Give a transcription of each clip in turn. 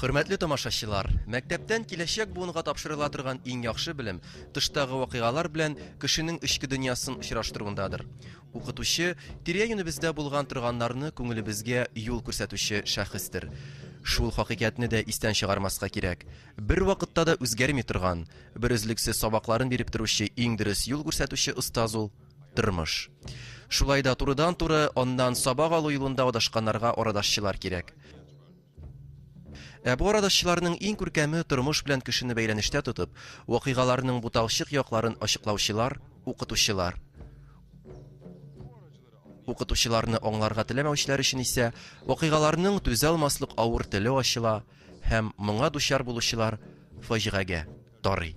Хөрмәтле тамашачылар, мәктәптән киләчәк буынга тапшырыла торган иң яхшы белем тыштагы вакыйгалар белән кешенең эчке дөньясын очраштыруындадыр. Укытучы тирә-юнебездә булган торганнарны күңелебезгә юл күрсәтүче шәхестер. Шул хакыйкатьне дә истән чыгармаска кирәк. Бер вакытта да үзгәрми торган, бер өзлексез сабакларын биреп торучы иң дөрес юл күрсәтүче остаз ул, Тормыш. Шулай да турыдан-туры аннан сабак алу юлында адашканнарга арадашчылар кирәк. Ә бу арадашчыларның иң күркәме тормыш белән кешене бәйләнештә тотып, вакыйгаларның буталчык якларын ачыклаучылар, укытучылар. Укытучыларны аңларга теләмәүчеләр өчен исә вакыйгаларның түзалмаслык авыр теле ачыла һәм моңа дучар булучылар фаҗигагә тарый.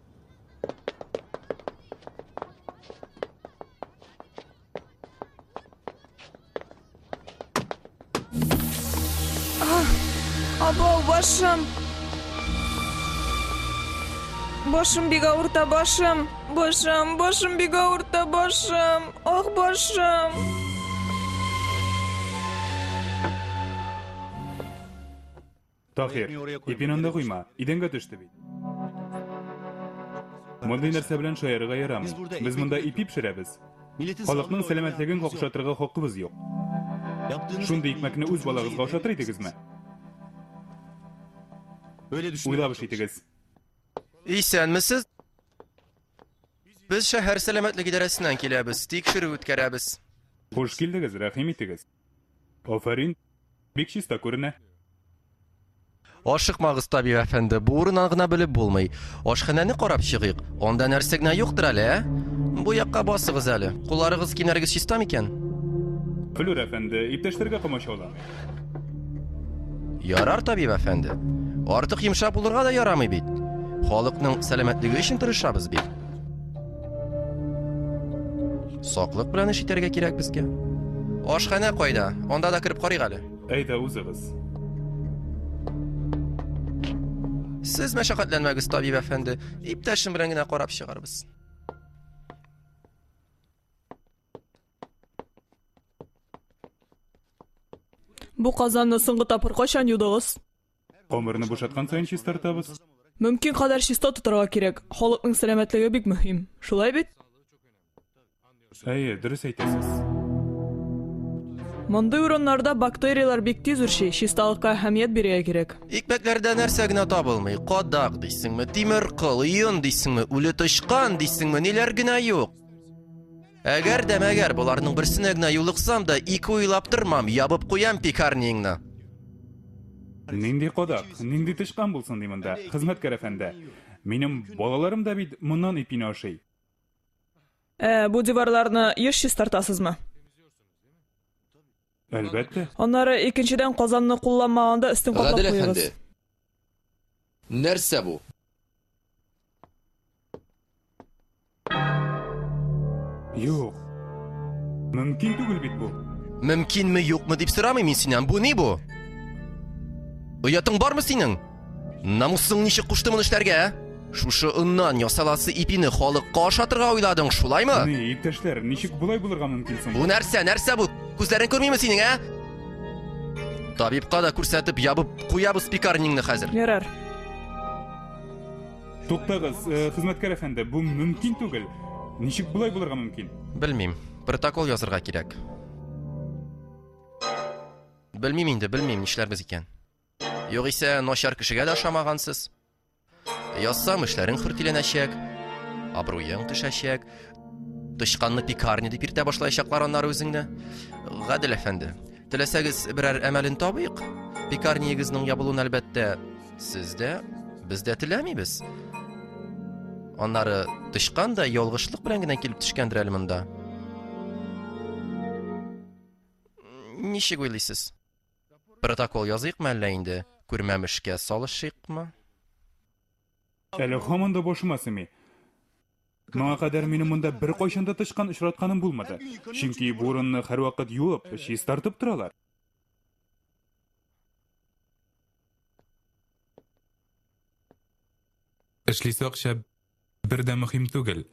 Абау, башым! Башым бик ауырта, башым! Башым, башым бик ауырта, башым! Ах, башым! Таһир, ипин анда куйма, идәнгә төште бит. Мондый нәрсә белән шаярырга ярамый. Без монда ипи пешерәбез. Халыкның сәламәтлеген какшатырга хакыбыз юк. Шундый икмәкне үз балагызга ашатыр идегезме? Уйлап эш итегез. Исәнмесез. Без шәһәр сәламәтлек идарәсеннән киләбез, тикшерү үткәрәбез. Хуш килдегез, рәхим итегез. Афәрин! Бик чиста күренә. Ашыкмагыз, табиб әфәнде, бу урыннан гына белеп булмый. Ашханәне карап чыгыйк. Анда нәрсә генә юктыр әле, ә? Бу якка басыгыз әле. Кулларыгыз, киемнәрегез чиста микән? Флүр әфәнде, иптәшләргә комачауламый. Ярар, табиб әфәнде. Артык йомшак булырга да ярамый бит. Халыкның сәламәтлеге өчен тырышабыз бит. Саклык белән эш итәргә кирәк безгә. Ашханә кайда? Анда да кереп карыйк әле. Әйдә үзегез. Сез мәшәкатьләнмәгез, табиб әфәнде. Иптәшем белән генә карап чыгарбыз. Бу казанны соңгы тапкыр кайчан юдыгыз? Камерны бушаткан саен чистартабыз. Мөмкин кадәр чиста тотарга кирәк. Халыкның сәламәтлеге бик мөһим. Шулай бит? Әйе, дөрес әйтәсез. Мондый урыннарда бактерияләр бик тиз үрчи, чисталыкка әһәмият бирергә кирәк. Икмәкләрдә нәрсә генә табылмый, кадак дисеңме, тимер кыл, йон дисеңме, үле тычкан дисеңме, ниләр генә юк. Әгәр дә мәгәр боларның берсенә генә юлыксам да, ике уйлап тормам, ябып куям пекарниеңны. Нинди кадак, нинди тычкан булсын ди монда, хезмәткәр әфәнде. Минем балаларым да бит моннан ипине ашый. Ә бу диварларны еш чистартасызмы? Әлбәттә. Аннары икенчедән казанны кулланмаганда өстен каплап куегыз. Гадел әфәнде. Нәрсә бу? Юк. Мөмкин түгел бит бу. Мөмкинме, юкмы дип сорамыйм мин синнән. Бу ни бу? Оятың бармы синең? Намусың ничек кушты моны эшләргә? ә? Шушы оннан ясаласы ипине халыкка ашатырга уйладың, шулаймы? Ни, иптәшләр, ничек болай булырга мөмкин соң? Бу нәрсә, нәрсә бу? Күзләрең күрмиме синең, ә? Табибка да күрсәтеп ябып куябыз пекарнеңне хәзер. Ярар. Туктагыз, э, хезмәткәр әфәнде, бу мөмкин түгел. Ничек болай булырга мөмкин? Белмим. Протокол язырга кирәк. Белмим инде, белмим, нишләрбез икән. Югыйсә, начар кешегә дә ошамагансыз. Язсам, эшләрең хөртиләнәчәк, абруең төшәчәк, тычканны пекарня дип иртә башлаячаклар аннары үзеңне. Гадел әфәнде, теләсәгез берәр әмәлен табыйк. Пекарниегезнең ябылуын әлбәттә сез дә, без дә теләмибез. Аннары тычкан да ялгышлык белән генә килеп төшкәндер әле монда. Ничек уйлыйсыз? Протокол языйкмы әллә инде, күрмәм эшкә салышыйкмы? Әле һаман да башыма семи. Моңа кадәр минем монда беркайчан да тычкан очратканым булмады. Чөнки бу урынны һәрвакыт юып, чистартып торалар. Эшлисе акча Бер дә мөһим түгел.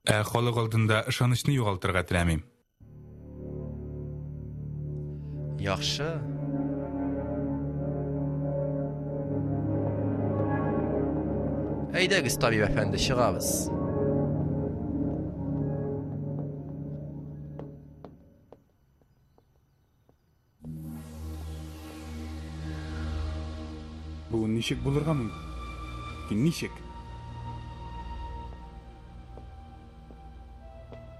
Ә халык алдында ышанычны югалтырга теләмим. Яхшы. Әйдәгез, табиб әфәнде, чыгабыз. Бу ничек булырга мөмкин? Ничек?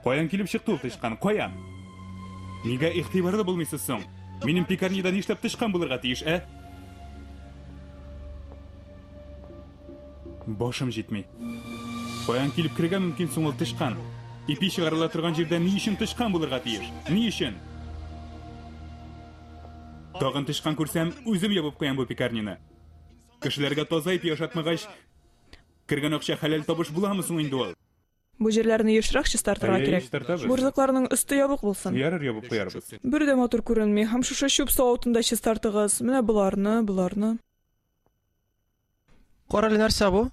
Каян килеп чыкты ул тычкан? Каян? Нигә игътибарлы булмыйсыз соң? Минем пекарняда нишләп тычкан булырга тиеш, ә? Башым җитми. Каян килеп керергә мөмкин соң ул тычкан? Ипи чыгарыла торган җирдә ни өчен тычкан булырга тиеш? Ни өчен? Тагын тычкан күрсәм, үзем ябып куям бу пекарняны. Кешеләргә таза ипи ашатмагач, кергән акча хәләл табыш буламы соң инде ул? Бу җирләрне ешрак чистартырга кирәк. Әйе, чистартабыз. Бурзыкларның өсте ябык булсын. Ярар, ябып куярбыз. Бер дә матур күренми. Һәм шушы чүп савытын да чистартыгыз. Менә боларны, боларны. Кара әле нәрсә бу?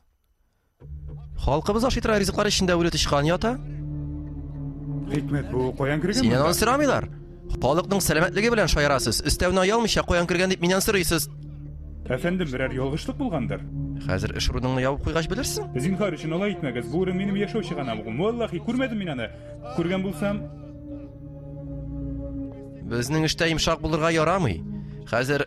Халкыбыз ашый тора ризыклар эчендә үле тычкан ята. Хикмәт бу каян кергән? Синнән аны сорамыйлар. Халыкның сәламәтлеге белән шаярасыз. Өстәвенә оялмыйча каян кергән дип миннән сорыйсыз. Әфәндем, берәр ялгышлык булгандыр. Хәзер эш урыныңны ябып куйгач белерсең. Зинхар өчен алай итмәгез. Бу урын минем яшәү чыганам. Валлахи, күрмәдем мин аны. Күргән булсам, Безнең эштә йомшак булырга ярамый. Хәзер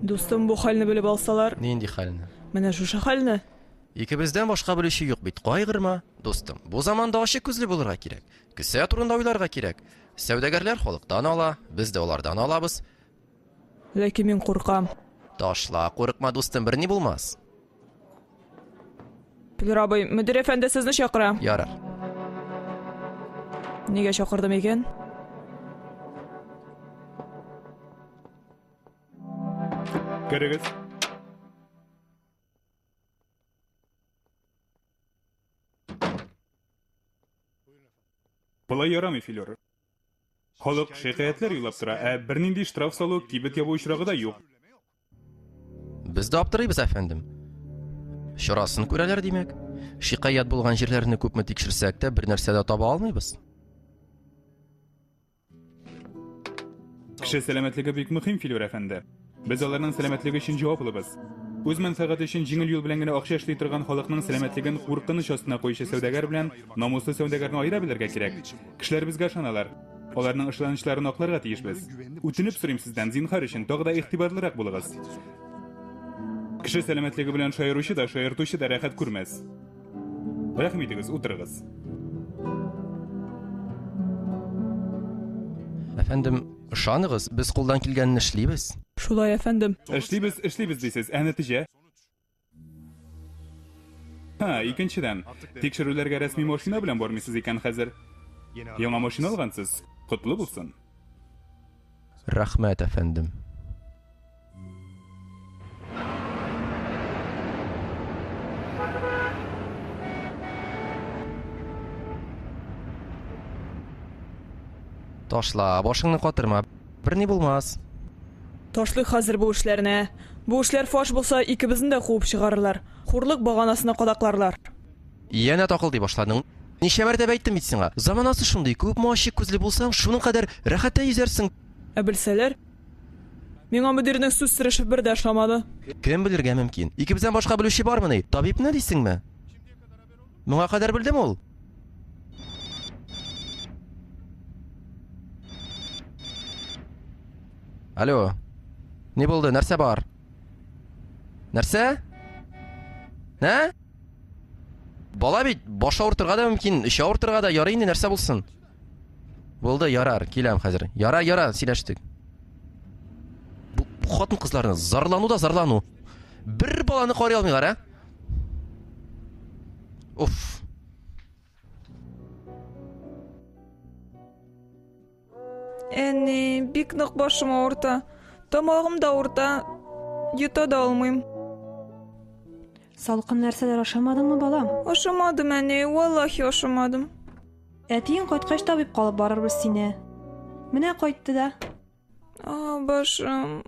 Дустым, бу хәлне белеп алсалар. Нинди хәлне? Менә шушы хәлне. Икебездән башка белүче юк бит. Кайгырма, дустым. Бу заманда ачык күзле булырга кирәк. Кесә турында уйларга кирәк. Сәүдәгәрләр халыктан ала, без дә алардан алабыз. Ләкин мин куркам. Ташла, курыкма, дустым, берни булмас. Пилер абый, мөдир әфәнде сезне чакыра. Ярар. Нигә чакырдым икән? Керегез. Болай ярамый, Филер. Халык шикаятьләр юллап тора, ә бернинди штраф салу, кибет ябу очрагы да юк. Без дә аптырыйбыз, әфәндем. Чарасын күрәләр, димәк. Шикаять булган җирләрне күпме тикшерсәк тә, бер нәрсә дә таба алмыйбыз. Кеше сәламәтлеге бик мөһим, Филүр әфәнде. Без аларның сәламәтлеге өчен җаваплыбыз. Үз мәнфәгате өчен җиңел юл белән генә акча эшли торган халыкның сәламәтлеген куркыныч астына куючы сәүдәгәр белән намуслы сәүдәгәрне аера белергә кирәк. Кешеләр безгә ышаналар. Аларның ышанычларын акларга тиешбез. Үтенеп сорыйм сездән, зинһар өчен, тагы да игътибарлырак булыгыз. Кеше сәламәтлеге белән шаяручы да, шаяртучы да рәхәт күрмәс. Рәхим итегез, утырыгыз. Әфәндем, ышаныгыз, без кулдан килгәнне эшлибез. Шулай, әфәндем. Эшлибез, эшлибез дисез, ә нәтиҗә? Ха, икенчедән, тикшерүләргә рәсми машина белән бармыйсыз икән хәзер. Яңа машина алгансыз. Котлы булсын. Рәхмәт, әфәндем. Ташла, башыңны катырма. Берни булмас. Ташлый хәзер бу эшләрне. Бу эшләр фаш булса, икебезне дә куып чыгарырлар. Хурлык баганасына кадакларлар. Янә такыл ди башладың. Ничә мәртәбә әйттем бит сиңа. Заманасы шундый, күпме ачык күзле булсаң, шуның кадәр рәхәттән йөзәрсең. Ә белсәләр, Миңа мөдирнең сүз сырышы бер дә ошамады. Кем белергә мөмкин? Икебездән башка белүче бармыни? Табибны дисеңме? Моңа кадәр белдем ул. Алло. Ни булды? Нәрсә бар? Нәрсә? Ә? Бала бит, баш авыртырга да мөмкин, эче авыртырга да ярый инде нәрсә булсын. Булды, ярар, киләм хәзер. Ярар, ярар, сөйләштек. Бу, бу хатын кызларны зарлану да зарлану. Бер баланы карый алмыйлар, ә? Уф. Әни, бик нык башым авырта. Тамагым да авырта. Йота да алмыйм. Салкын нәрсәләр ашамадыңмы, балам? Ашамадым, әни, валлахи ашамадым. Әтиең кайткач табибка алып барырбыз сине. Менә кайтты да. А, башым.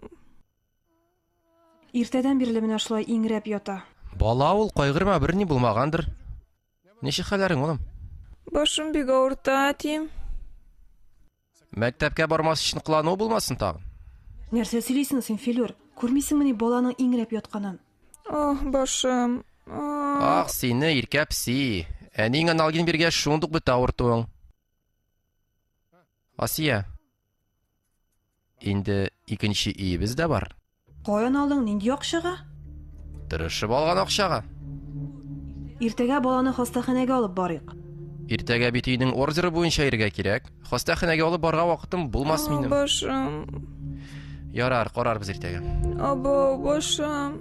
Иртәдән бирле менә шулай иңрәп ята. Бала ул, кайгырма, берни булмагандыр. Ничек хәлләрең, улым? Башым бик авырта, әти. Мәктәпкә бармас өчен кылану булмасын тагын. Нәрсә сөйлисең син, Филюр? Күрмисеңмени баланың иңрәп ятканын? Ах, башым. Ах, сине, иркә пси. Әниең аналгин биргәч, шундук бетә авыртуың. Асия. Инде икенче өебез дә бар. Каян алдың, нинди акчага? Тырышып алган акчага. Иртәгә баланы хастаханәгә алып барыйк. Иртәгә бит өйнең ордеры буенча иргә кирәк. Хастаханәгә алып барга вакытым булмас О, минем. башым. Ярар, карарбыз иртәгә. Абау, башым.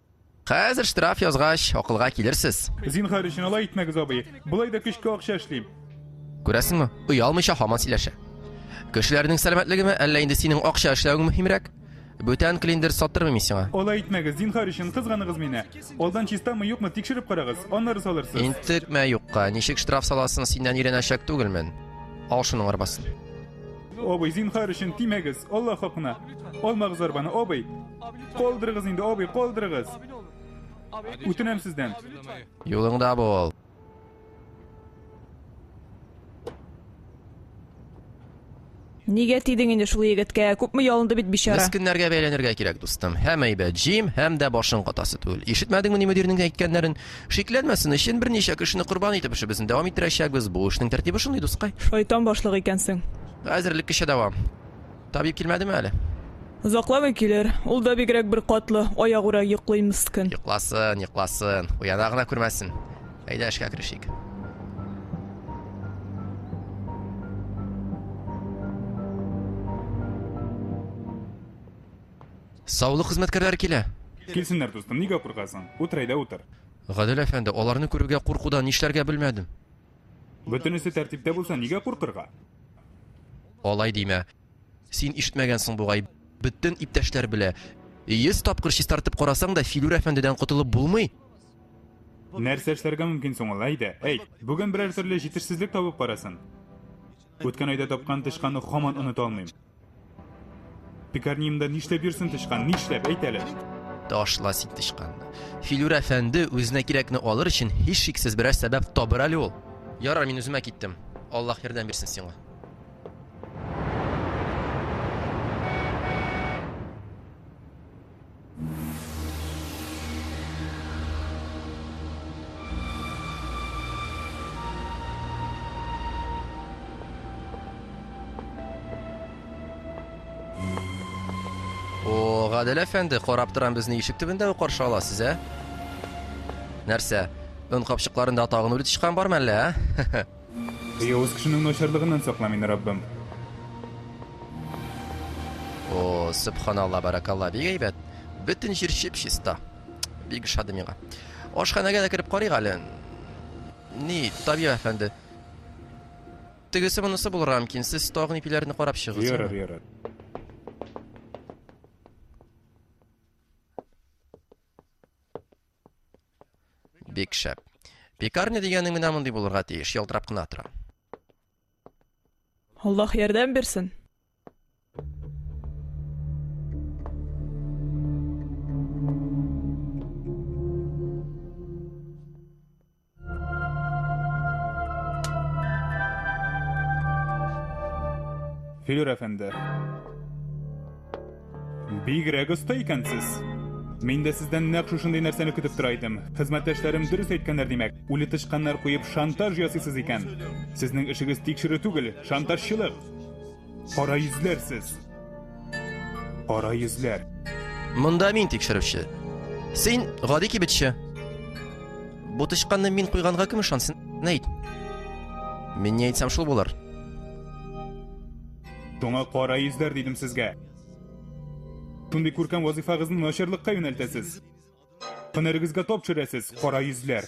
Хәзер штраф язгач, акылга килерсез. Зинхар өчен алай итмәгез, абый. Болай да көчкә акча эшлим. Күрәсеңме, оялмыйча һаман сөйләшә. Кешеләрнең сәламәтлегеме, әллә инде синең акча эшләвең мөһимрәк? Бүтән клиндер саттырмыйм мин сиңа. Алай итмәгез, зинхар өчен кызганыгыз мине. Алдан чистамы, юкмы тикшереп карагыз, аннары салырсыз. Интекмә юкка, ничек штраф саласын синнән өйрәнәчәк түгелмен. Ал шуның арбасын. Абый, зинхар өчен тимәгез, Алла хакына. Алмагыз арбаны, абый. Калдырыгыз инде, абый, калдырыгыз. Үтенәм сездән. Юлыңда бул. Нигә тидең инде шул егеткә? Күпме ялынды бит бичара. Мескеннәргә бәйләнергә кирәк, дустым. Һәм әйбәт җим, һәм дә башың катасы түгел. Ишетмәдеңме ни мөдирнең әйткәннәрен? Шикләнмәсен өчен берничә кешене корбан итеп эшебезне дәвам иттерәчәкбез. Бу эшнең тәртибе шундый, дускай. Шайтан башлык икәнсең. Хәзерлек кичә дәвам. Табиб килмәдеме әле? Озакламый килер. Ул да бигрәк бер катлы, аягүрә йоклый мскн. Йокласын, йокласын. Уяна гына күрмәсен. Әйдә эшкә керешик. Саулык хезмәткәрләре килә. Килсеннәр, дустым, нигә куркасың? Утыр әйдә, утыр. Гадел әфәнде, аларны күрүгә куркудан нишләргә белмәдем. Бөтенесе тәртиптә булса, нигә куркырга? Алай димә. Син ишетмәгәнсең бугай. Бөтен иптәшләр белә. Йөз тапкыр чистартып карасаң да, Филүр әфәндедән котылып булмый. Нәрсә эшләргә мөмкин соң ул, әйдә, әйт. Бүген берәр төрле җитешсезлек табып карасын. Үткән айда тапкан тычканны хаман оныта алмыйм. Текарниемда нишләп йөрсен тычкан, нишләп, әйт әле? Ташла син тычканны. Филүр әфәнде үзенә кирәкне алыр өчен һичшиксез берәр сәбәп табыр әле ул. Ярар, мин үземә киттем. Аллаһ ярдәм бирсен сиңа. О, Гадел әфәнде, карап торам безне ишек төбендә үк каршы аласыз, ә? Нәрсә? Он капчыкларында тагын үле тычкан бармы әллә, ә? Явыз кешенең начарлыгыннан сакла мине, Раббым. О, сөбханалла, баракалла, бик әйбәт. Бөтен җир чип-чиста. Бик ошады миңа. Ашханәгә дә кереп карыйк әле. Ни, табиб әфәнде. Тегесе монысы булырга мөмкин. Сез тагын ипиләрне карап чыгыгыз. Ярар, ярар. Бик шәп. Пекарня дигәнең менә мондый булырга тиеш, ялтырап кына тора. Аллаһ ярдәм бирсен. Филюр әфәнде. Бигрәк оста икәнсез. Мин дә сездән нәкъ шушындый нәрсәне көтеп тора идем. Хезмәттәшләрем дөрес әйткәннәр димәк. Үле тычканнар куеп шантаж ясыйсыз икән. Сезнең эшегез тикшерү түгел, шантажчылык. Кара йөзләр сез. Кара йөзләр. Монда мин тикшерүче. Син гади кибетче. Бу тычканны мин куйганга кем ышансын? Нәйт. Мин не әйтсәм шул булыр. Шуңа кара йөзләр дидем сезгә. Шундый күркәм вазифагызны начарлыкка юнәлтәсез. Һөнәрегезгә топ төшерәсез, кара йөзләр.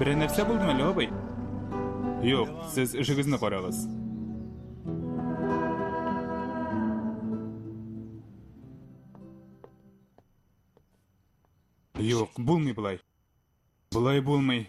Берәр нәрсә булдымы әле, абый? Юк, сез эшегезне карагыз. Юк, булмый болай. Болай булмый.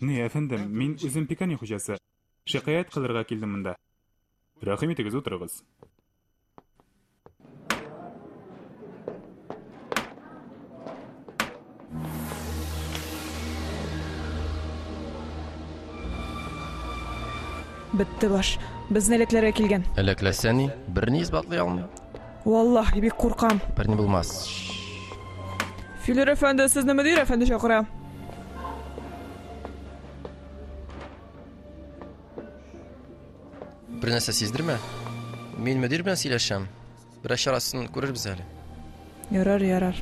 Ни, әфәндем, мин үзем пекани хуҗасы. Шикаять кылырга килдем монда. Рәхим итегез, утырыгыз. Бетте баш. Безне эләкләргә килгән. Эләкләсә ни? Берни исбатлый алмый. Валлаһи, бик куркам. Парни булмас. Филер әфәнде, сезне мөдир әфәнде чакыра. Бер нәрсә сиздермә. Мин мөдир белән сөйләшәм. Бераз чарасын күрербез әле. Ярар, ярар.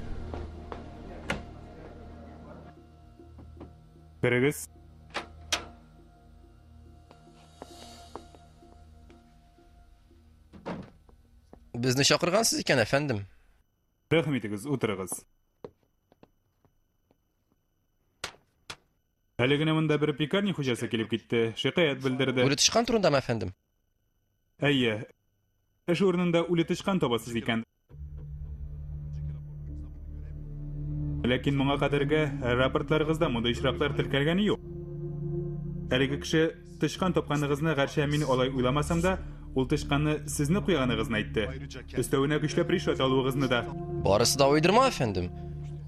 Керегез. Безне чакыргансыз икән, әфәндем. Рәхим итегез, утырыгыз. Әле генә монда бер пекарня хуҗасы килеп китте, шикаять белдерде. Үле тычкан турындамы, әфәндем? Әйе. Эш урынында үле тычкан табасыз икән. Ләкин моңа кадәрге рапортларыгызда мондый очраклар теркәлгәне юк. Әлеге кеше тычкан тапканыгызны гәрчә мин алай уйламасам да, ул тычканны сезне куйганыгызны әйтте. Өстәвенә көчләп ришвәт алуыгызны да. Барысы да уйдырма, әфәндем.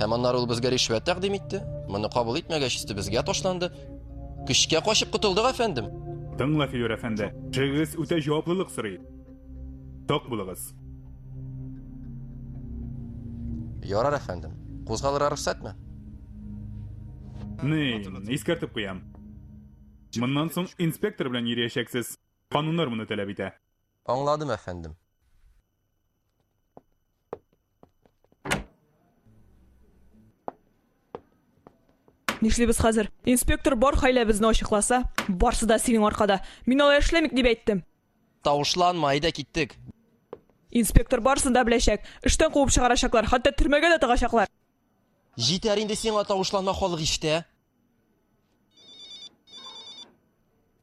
Һәм аннары ул безгә ришвәт тәкъдим итте. Моны кабул итмәгәч, безгә ташланды. Көчкә качып котылдык, әфәндем. Тыңла, Филүр әфәнде, шыгыз үтә җаваплылык сорый. Ток булыгыз. Ярар, әфәндем. Кузгалырга рөхсәтме? Ни, искәртеп куям. Моннан соң инспектор белән йөриячәксез. Кануннар моны таләп итә. Аңладым, әфәндем. Нишлибез хәзер? Инспектор бар хәйләбезне ачыкласа, барсы да синең аркада. Мин алай эшләмик дип әйттем. Тавышланма, әйдә киттек. Инспектор барсын да беләчәк. Эштән куып чыгарачаклар, хәтта төрмәгә дә тыгачаклар. Җитәр инде сиңа тавышланма халык иштә.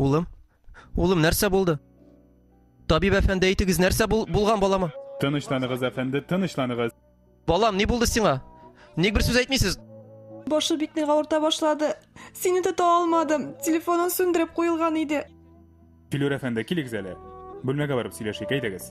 Улым, улым, нәрсә булды? Табиб әфәнде, әйтегез, нәрсә бул, булган балама? Тынычланыгыз, әфәнде, тынычланыгыз. Балам, ни булды сиңа? Ник бер сүз әйтмисез? Башы бик нык авырта башлады. Сине тота алмадым. Телефонын сүндереп куелган иде. Филүр әфәнде, килегез әле. Бүлмәгә барып сөйләшик, әйдәгез.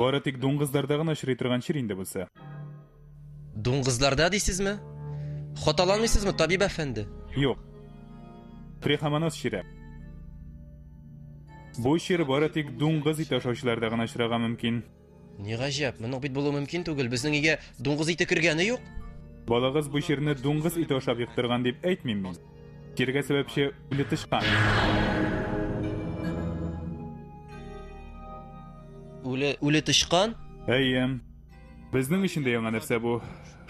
Бары тик дуңгызларда гына очрый торган чир инде бусы. Дуңгызларда дисезме? Хаталанмыйсызмы, табиб әфәнде? Юк. Трихомонос чире. Бу чир бары тик дуңгыз ите ашаучыларда гына очрарга мөмкин. Ни гаҗәп, моның бит булу мөмкин түгел. Безнең өйгә дуңгыз ите кергәне юк. Балагыз бу чирне дуңгыз ите ашап йоктырган дип әйтмим мин. Кирегә сәбәпче үле тычкан. Үле, үле тычкан? Әйе. Безнең өчен дә яңа нәрсә бу.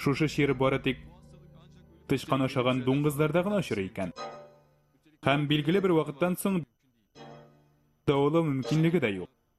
Шушы чир бары тик тычкан ашаган дуңгызларда гына очрый икән. Һәм билгеле бер вакыттан соң дәвалау мөмкинлеге дә юк.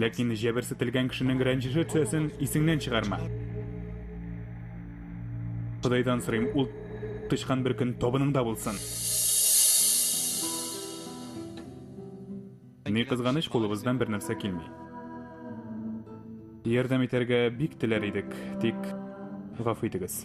Ләкин җәберсетелгән кешенең рәнҗеше төсәсен исеңнән чыгарма. Кудайдан сорыйм, ул тычкан бер көн табыныңда булсын. Ни кызганыч, кулыбыздан бер нәрсә килми. Ярдәм итәргә бик теләр идек, тик гафу итегез.